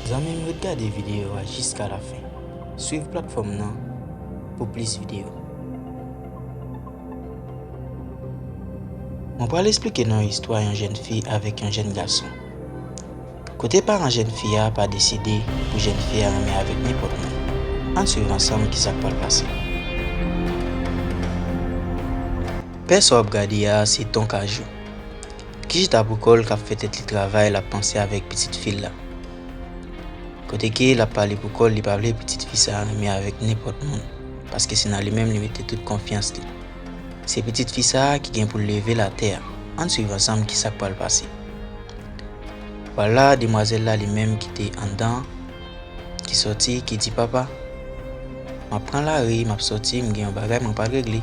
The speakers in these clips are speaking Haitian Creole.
Zanmim ret gade videyo a jiska la fen. Swiv platfòm nan pou plis videyo. Mwen pral esplike nou istwa yon jèn fi avèk yon jèn gason. Kote paran jèn fi a pa deside pou jèn fi a renmen avèk nenpòt moun? Ann swiv ansanm kisa k pral pase. Pè sa w ap gade a se Ton Kajou ki chita pou kò l k ap fè tèt li travay l ap panse avèk pitit fi l la. Kote ke l ap pale pou kò l li pa vle pitit fi sa renmen avèk nenpòt moun paske se nan li menm li mete tout konfyans li. Se pitit fi sa a ki gen pou l leve latè a. Ann suiv ansanm ki sa k pral pase. Wala demwazèl la li menm ki te anndan an, ki sòti, ki di papa, M ap pran lari, m ap sòti, m gen yon bagay mwen pral regle,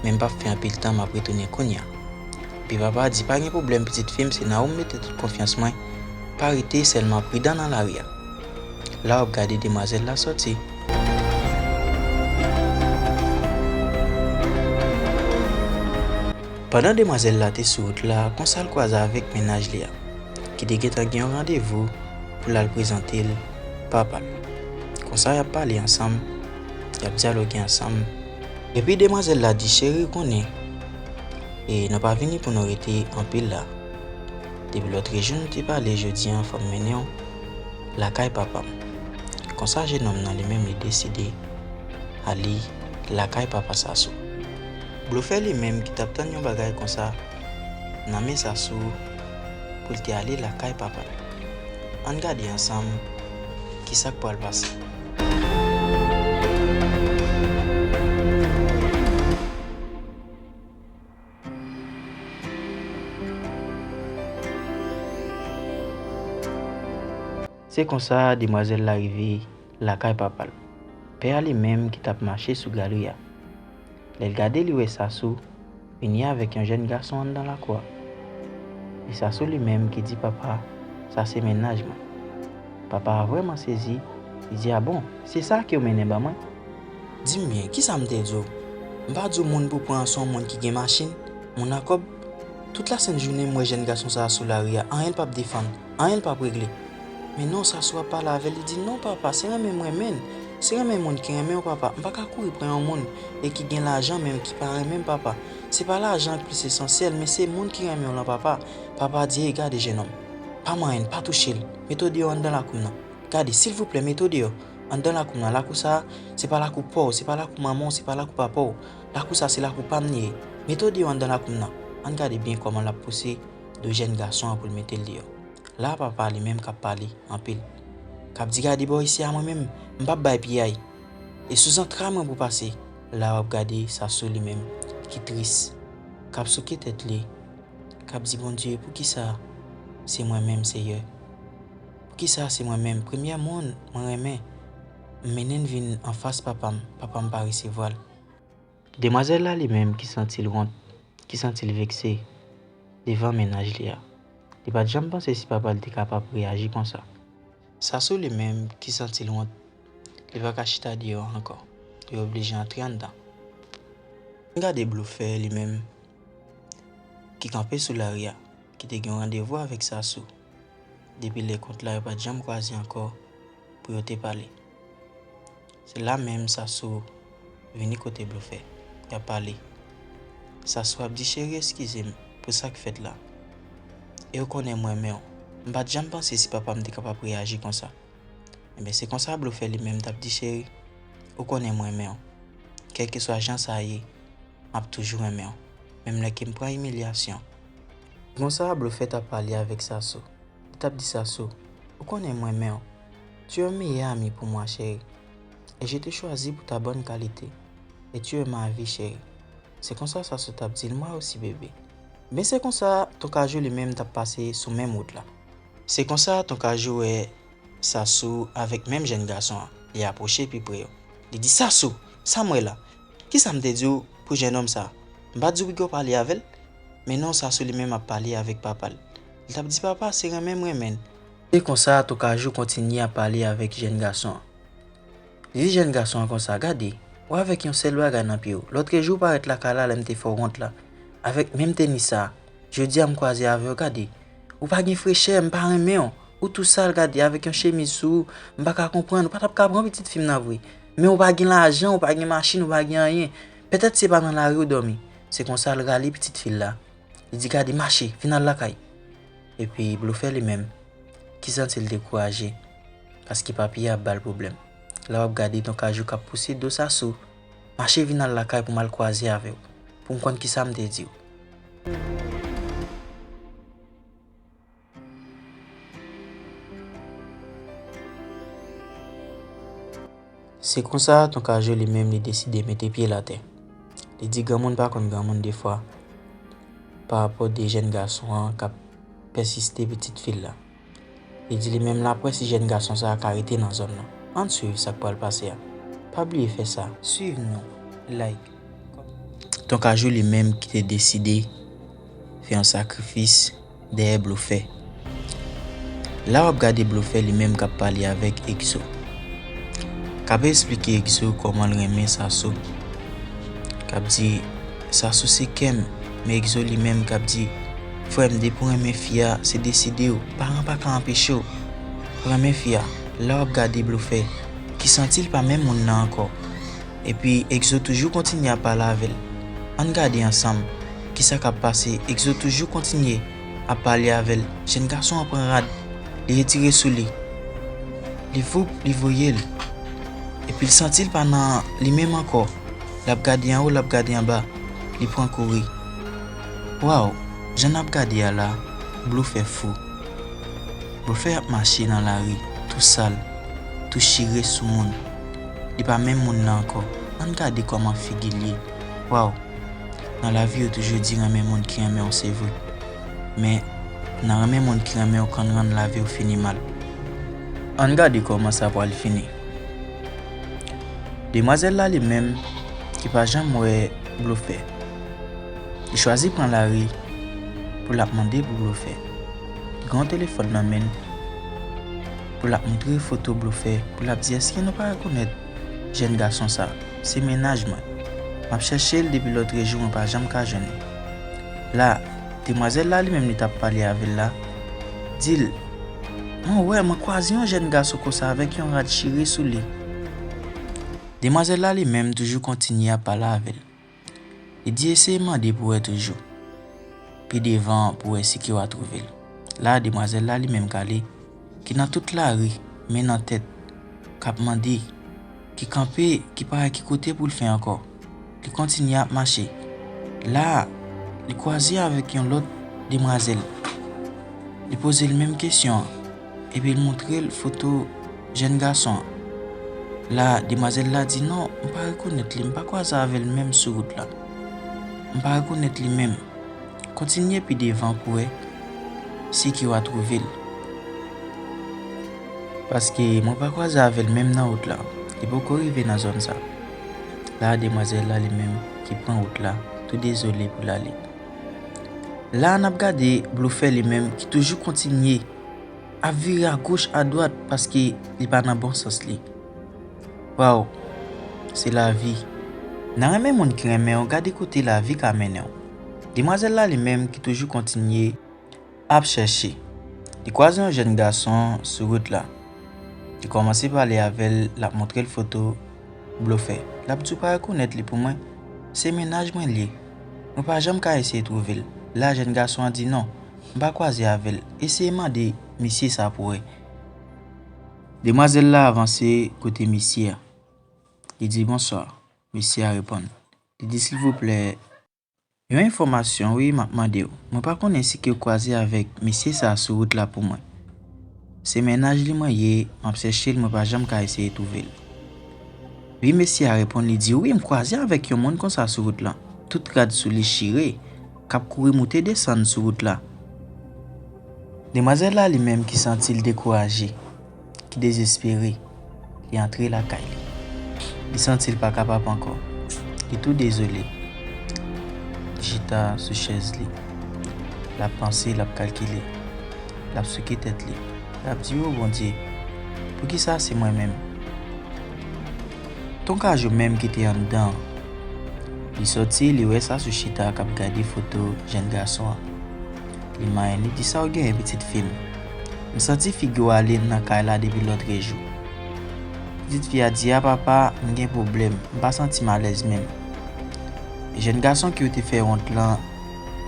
men m p ap fè anpil tan m ap retounen kounya. Epi papa a di, Pa gen pwoblèm pitit fi m, se nan ou m mete tout konfyans mwen, pa rete sèlman pridan nan lari a. la wap gade demwazel la soti. Pandan demwazel la te sou wout la konsal kwaze avek mennaj li a ki te gentan gen yon randevou pou lal prezantel papal konsa yap pale ansanm yap dyaloge ansanm epi demwazel la di cheri ou konnen e nou pa vini pou nou rete anpil la depi lotrejou nou te pale jodi an fòm mennenw Lakay papa m. Konsa jenòm nan li menm li deside ale lakay papa Sasou. Blofè li menm ki t ap tann yon bagay konsa nan men Sasou pou l te ale lakay papa l. Ann gade ansanm kisa k pral pase. Se konsa demwazèl la rive lakay papa l. Pè a li menm ki t ap mache sou galri a. Lè l gade li wè Sasou vini avèk yon jèn gason anndan lakou a. E Sasou li menm ki di papa sa se mennaj mwen. Papa a vrèman sezi, li di a bon, se sa ke w mennen ban mwen? Di m byen, kisa m te di w? M pa di w moun pou pran an se yon moun ki gen machin, moun a kòb? Tout lasent jounen m wè jèn gason sa a sou lari a, anyen l pap defann, anyen l pap regle. Men non sa sou ap pale avè l, li di, non papa, se renmen m renmen l, se renmen moun ki renmen w papa, m pa ka kouri pran yon moun e ki gen lajan men ki pa renmen m papa. Se pa lajan ki plis esansyèl men se moun ki renmen w lan papa. Papa a di, ey gade jennonm, pa manyen l, pa touche l, mete w deyò anndan lakou m nan. Gade, silvouplè, mete w deyò. Anndan lakou m lan, lakou sa a, se pa lakou pa w, se pa lakou manman w, se pa lakou papa w. Lakou sa a, se lakou pa m li ye. Mete w deyò anndan lakou m lan. Ann gade byen kòman l ap pouse do jèn gason an pou l mete l deyò. La a papa a li menm k ap pale anpil. K ap di gade bò isi a mwen menm, m p ap bay piyay. E sou zantray mwen pou w pase. La a w ap gade Sasou li menm ki tris. K ap souke tèt li. K ap di Bondye poukisa se mwen menm Seyè. Poukisa se mwen menm premyè moun mwen renmen m mennen l vin anfas papa m, papa m pa resevwa l. Demwazèl la li menm ki santi l wont, ki santi l vekse devan mennaj li a. Li pa t janm panse si papa l te kapab reyaji konsa. Sasou li menm ki santi l wont, li pa ka chita deyò ankò, li oblije antre anndan. N gade Blofè li menm ki kanpe sou lari a, ki te gen randevou avèk Sasou. Depi lè kont la yo pat janm kwaze ankò pou yo te pale. Se la menm Sasoo vini kote Blofè, yap pale. Sasoo ap di cheri eskizem pou sak fèt la. E ou konnen m renmenw, m pat janm panse si papam te kapab reyaji konsa. Enben se konsa Blofè li menm tap di cheri, ou konnen m renmenw. Kèlkeswa jan sa ye. map toujou renmenw menm lè kem pran imilyasyon. Konsa blofè tap pale avèk Sasou li tap di Sasou ou konnen mrenmenw tu es un meilleur ami pour moi chérie et je te choisis pour ta bonne qualité et tu es ma vie chérie se konsa Sasou tap dil moi aussi bébé. Ebyen se konsa ton kajou li menm tap pase sou menm wout la. Se konsa ton kajou wè Sasou, avèk menm jèn gason an, li apwoche pi pre yo. Li di, Sasou! Sa m wè la? Ki sa m te di w pou jennonm sa a? M pa t di w pito w pale avè l? Men non, Sasou li menm ap pale avèk papa l. Li t ap di, Papa, se renmen m renmen l. Se konsa, Tokajou kontinye ap pale avèk jèn gason an. Li di jèn gason an konsa, Gade, ou avèk yon sèl bagay nan pye w. Lòtrejou ou parèt lakay la lè m te fè w wont la, avèk menm tenis sa a. Jodia m kwaze avew gade. Ou pa gen frechè, m pa renmenw. Ou tou sal gade avek yon chemiz sou ou, m pa ka konprann, ou pa tap ka pran pitit fim nan vre. Men ou pa gen lajan, ou pa gen machin, ou pa gen anyen. Petet se pa nan lari ou domi. Se konsa l rale pitit fil la. Li di gade mache, vin al lakay. Epi blofè li menm, ki santil dekouraje, paske papi a ap bal pwoblèm. La wap gade don kajou kap pouse do Sasou. Mache vin al lakay pou m al kwaze avè w, pou m konn kisa m te di w. Se konsa, ton Kaje li menm li deside mete pye l atè. Li di granmoun pa konn granmoun defwa, parapò de jèn gason an k ap pèsiste pitit fi l la. Li di li menm lap wè si jèn gason sa a ka rete nan zòn nan. Ann swiv sak pral pase a. Pa bliye fè sa, swiv nou, like, kòmante. Ton Kajou li menm ki te deside fè yon sakrifis dèyè Blofè. La wap gade Blofè li menm kap pale avèk Exo. Kap esplike Exo kòmanl renmen Sassou. Kap di Sassou se kèm men Exo li menm kap di. Frèm depi w renmen fi a se desidew paran pa ka anpechew renmen fi a lè wap gade blofè ki santil pa menm moun nan ankò epi Exo toujou kontinye ap pale avèl ann gade ansanm kisa kap pase Exo toujou kontinye ap pale avèl jèn gason an pran rad li retire sou li li voup li voyel epil santil pa nan li menm ankò lap gade anwo lap gade anba li pran kouri. Waw jan nap gade a la blofè fou blofè ap mache nan lari tou sal tou chire sou moun li pa menm moun nan ankò ann gade kòman figil ye waw nan lavi yo toujou di renmen moun ki renmenw se vre men nan renmen moun ki renmenw konn rann laviw fini mal ann gade kòman sa pwal fini demwazèl la li menm ki pa janm wè blofè. Li chwazi pran lari pou l ap mande pou blofè ki gen yon telefòn nan men l pou l ap montre foto blofè pou l ap di èske nou pa rekonèt jèn gason sa se mennaj mwen m ap chèche l depi lòtrejou mwen pa janm ka jwenn li la demwazèl la li menm li t ap pale avè l la di l mwen wè mwen kwaze yon jèn gason konsa avèk yon rad chire sou li demwazèl la li menm toujou kontinye ap pale avè l. Li di eseye mande pou wè toujou. Pi devan pou wè si kew a trouvel. La demwazèl la li menm kale ki nan tout lari men nan tèt kap mande ki kanpe ki pa wè ki kote poul fè ankò. Li kontinye ap mache. La li kwaze avèk yon lòt demwazèl. Li pozel menm kesyon an. Epi l montre l foto jèn gason an. La demwazèl la di non, m pa rekonèt li, m pa kwaze avè l menm sou wout la. M pa rekonèt li menm. Kontinye pi devan pou wè si ke wa twouve l. Paske mwen pa kwaze avè l menm nan wout la. Li poko rive nan zòn sa. La demwazèl la li menm ki pran wout la tou dezole pou l ale. La n ap gade blofè li menm ki toujou kontinye. Ap vire a goch a dwat paske li pa nan bon sans li. Waw se lavi nan renmen moun ki renmenw gade kote lavi ka mennenw. Demwazèl la li menm ki toujou kontinye ap chèche li kwaze yon jèn gason sou wout la li kòmanse pale avèl lap montrel foto blofè lap diw pa rekonèt li pou mwen se mennaj mwen liye mwen pa janm ka eseye twouvel la jèn gason an di non M pa kwaze avèl. Eseye mande misye sa pou wè. Demwazèl la avanse kote misye a. Li di bonswa. Misye a reponn. Li di silvouplè yon enfòmasyon wi m ap mande w. Mwen pa konnen si ke w kwaze avèk misye sa sou wout la pou mwen. Se mennaj li mwen ye, m ap chèche l mwen pa janm ka eseye twouve l. Wi mesye a reponn li di wi m kwaze avèk yon moun konsa sou wout lan. Tout rad sou li chire. K ap kouri moute desann sou wout la. Demwazèl la li menm ki santi l dekouraje, ki dezespere, li antre lakay li. Li santi l pa kapab ankò. Li tou dezole. Li chita sou chèz li. L ap panse, l ap kalkile. L ap souke tèt li. L ap di, O Bondye, poukisa se mwen menm? Ton Kajo menm ki te anndan an. Li soti, li wè Sassou chita kap gade foto jenn gason an. Li manyen li di Saw genyen pitit fi m? M santi figi w ale nan kay la depi lotre jou. Pitit fi a di a papa m gen pwoblèm, m pa santi m alèz menm. Jenn gason ki ou te fè wont lan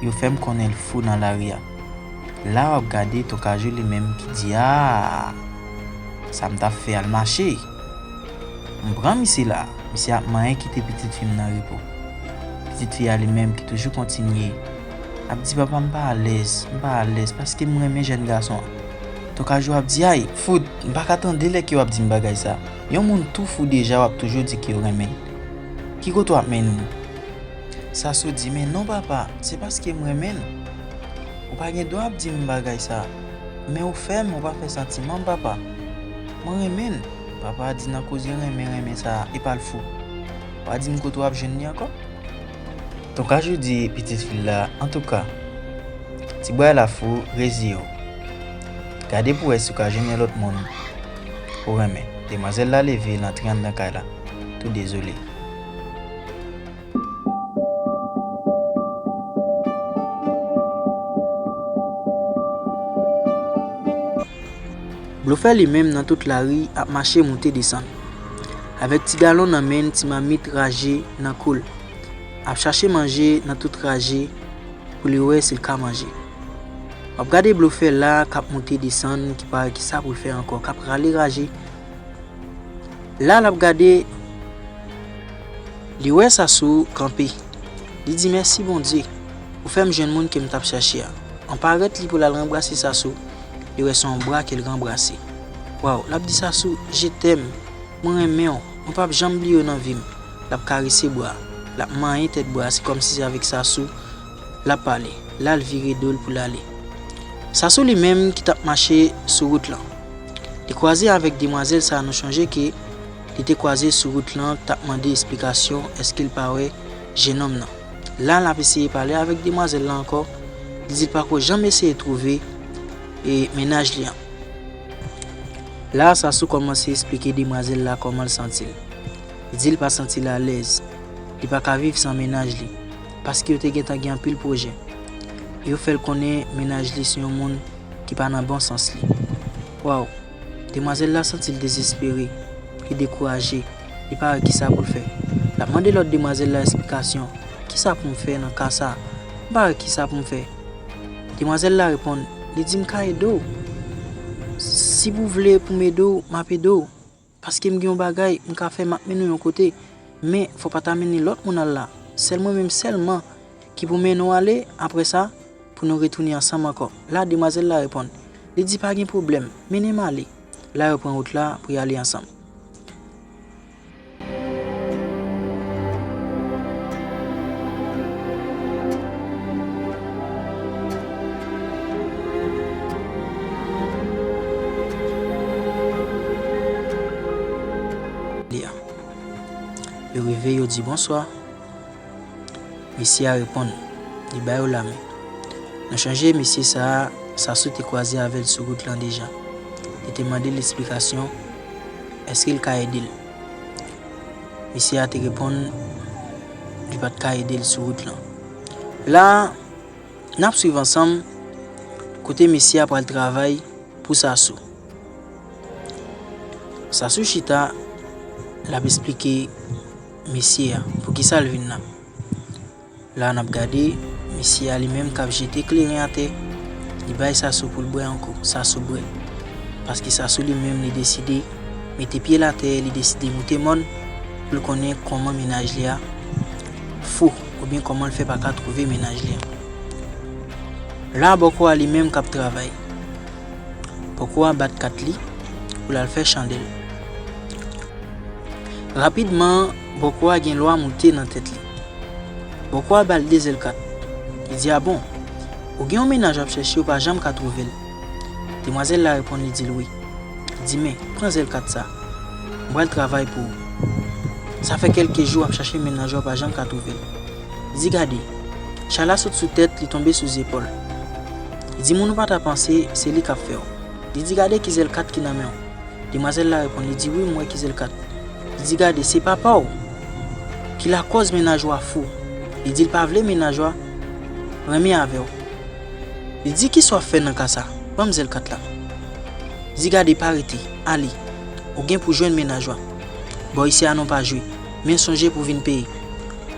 yo fè m konnen l fou nan lari a. La wap gade Ton Kajo li menm ki di aah sa m tap fè al mache. M pran misye la, misye ap manyen kite pitit fi m nan repo. Pitit fi a li menm ki toujou kontinye ap di papa m pa alèz, m pa alèz paske m renmen jèn gason an. Tokajou ap di ay fout, m pa ka tande lè ke w ap di m bagay sa. Yon moun tou fou deja w ap toujou di ke w renmen l. Ki kote w ap mennen m? Sasou di men non papa, se paske m renmen l. Ou pa gen dwa ap di m bagay sa. Men ou fè m, ou pa fè santiman m papa. Mwen renmen l. Papa a di nan koze renmen renmen sa a, epa l fou. Pa di m kote w ap jwenn li ankò? Ton Kajou di pitit fi l la, Antouka, ti bway la fou, reziye w. Gade pou w wè si w ka jwenn yon lòt moun pou w renmen. Demwazèl la leve, l antre anndan kay la, tou dezole. Blofè li menm nan tout lari ap mache moute desann. Avèk ti galon nan men n ti mamit raje nan kou l. Ap chache manje nan tout raje pou li wè si l ka manje. W ap gade blofè la k ap moute desann ki pa wè kisa pou l fè ankò k ap rale raje. La lap gade Li wè Sasou kanpe Li di mèsi Bondye ou fèm jwenn moun kem tap chache a an parèt li pou lal ranbrase Sasou li wè son bra kel ranbrase waw lap di Sasou je tèm mwen renmenw mwen pap janm bliyew nan vim lap karese bra lap manyen tèt bra se kòmsi se avèk Sasou L ap pale, l al vire do l pou l ale. Sasou li menm ki t ap mache sou wout lan. Li kwaze avèk demwazèl sa nou chonje ke li te kwaze sou wout lan t ap mande esplikasyon èske l pa wè jenòm nan. La l ap eseye pale avèk demwazèl la ankò, li di l pa ko janm eseye twouve e mennaj li an. La Sasou kòmanse esplike demwazèl la kòman l santi l. Li di l pa santi l alèz, li pa ka viv san mennaj li. Paske yo te gentan gen anpil pwojè. E yo fè l konnen mennaj li se yon moun ki pa nan bon sans li. Waw! Demwazèl la santi l dezespere, li dekouraje, li pa wè kisa pou l fè. L ap mande lòt demwazèl la esplikasyon, Kisa pou m fè nan ka sa? M pa wè kisa pou m fè. Demwazèl la reponn li di m ka ede w. Si pou w vle pou m ede w, m ap ede w. Paske m gen yon bagay m ka fè m ap mennen w yon kote, men fò pa ta mennen lòt moun al la. Sèl mwen menm sèlman ki pou mennen w ale, apre sa, pou nou retounen ansanm ankò. La demwazèl la reponn. Li di pa gen pwoblèm, mennen m ale. La yo pran wout la pou y ale ansanm. Yo rive, yo di bonswa. Mesye a reponn, li ba yo lamen. Nou chonje mesye sa a, Sassou te kwaze avè l sou wout lan deja. Li te mande l esplikasyon, èske l ka ede l. Mesye a te reponn li pa t ka ede l sou wout lan. La a. Nap swiv ansanm kote mesye a pral travay pou Sasou. Sasou chita lap esplike mesye a poukisa l vin la. La nap gade mesye a li menm kap jete kleren atè, li bay Sasou pou l bwè anko. Sasou bwè. Paske Sasou li menm li deside mete pye l atè, li deside moute mòn pou l konnen kòman menaj li a. Fou ou byen koman l fè paka trouve mennaj li an la bòkò a li menm kap travay bòkò a bat kat li pou lal fè chandèl rapidman bòkò a gen lwa moute nan tèt li bòkò a bal de zèl kat li di a bon ou gen yon mennaj wap chèche ou pa janm ka trouvel. Demwazèl la reponn li di l wi. Li di men, pran zèl kat sa. M pral travay pou ou. Sa fè kèlke jou ap chache men nanjwa pa janm ka twouve l. Li di gade, chal la sot sou tèt li tonbe sou zepòl. Li di moun ou pa ta panse se li k ap fè w. Li di gade ki zèl kat ki nan men w. Demwazèl la reponn li di wi m wè ki zèl kat. Li di gade se papa w ki lakòz men najwa fou. Li di l pa vle men najwa renmen avè w. Li di kisa wap fè nan ka sa? Banm zèl kat la. Di gade pa rete, ale. Ou gen pou jwenn mennaj wap. Bò isi a non pa jwe. Men sonje pou vin peye.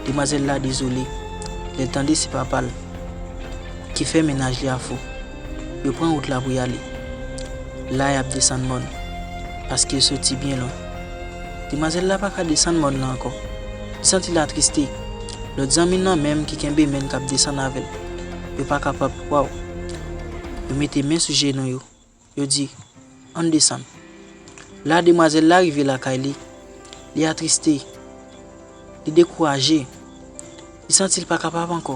Demwazèl la dezole lèl tande se papal ki fè mennaj li a fou. Yo pran wout la pou yale. La yap desann mòn. Paske yo soti byen lwen. Demwazèl la paka desann mòn lan ankò. Li santi l atriste. Lòt zanmil lan menm ki kenbe menn kap desann avèl. yo pa kapab kwa w. Yo mete men sou jenou yo, yo di, Ann desann. La demwazèl la rive lakay li, li atriste, li dekouraje, li santi l pa kapab ankò.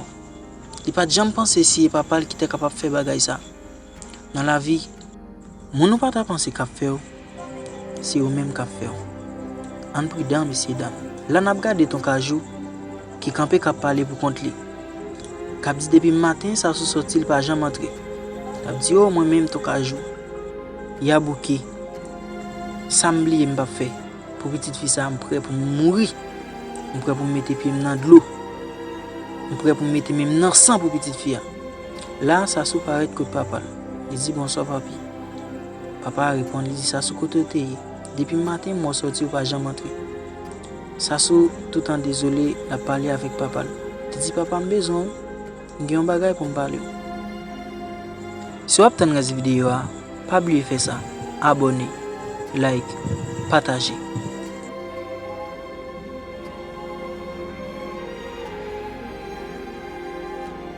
Li pa t janm panse si e papa l ki te kapab fè bagay sa. Nan lavi, moun ou pa ta panse k ap fè w, se yo menm k ap fè w. Ann pridan, mesye dam. La n ap gade ton Kajou ki kanpe k ap pale pou kont li, k ap di depi maten sa sou sòti l pa janm antre. L ap di, O mwen menm ton Kajou, ya bouke, sa m bliye m p ap fè pou pitit fi sa a? M prè pou m mouri, m prè pou m mete pye m nan dlo, m prè pou m mete men m nan san pou pitit fi a. La a Sasou parèt kot papa l. Li di bonswa papi. Papa a reponn li di Sasou kote w te ye? Depi maten mwen w sòti ou pa janm antre. Sasou toutan dezole l ap pale avèk papa l. Li di papa m bezwen w. M gen yon bagay pou m pale w. Si w ap tann rès videyo a, pa bliye fè sa, abòne, like, pataje.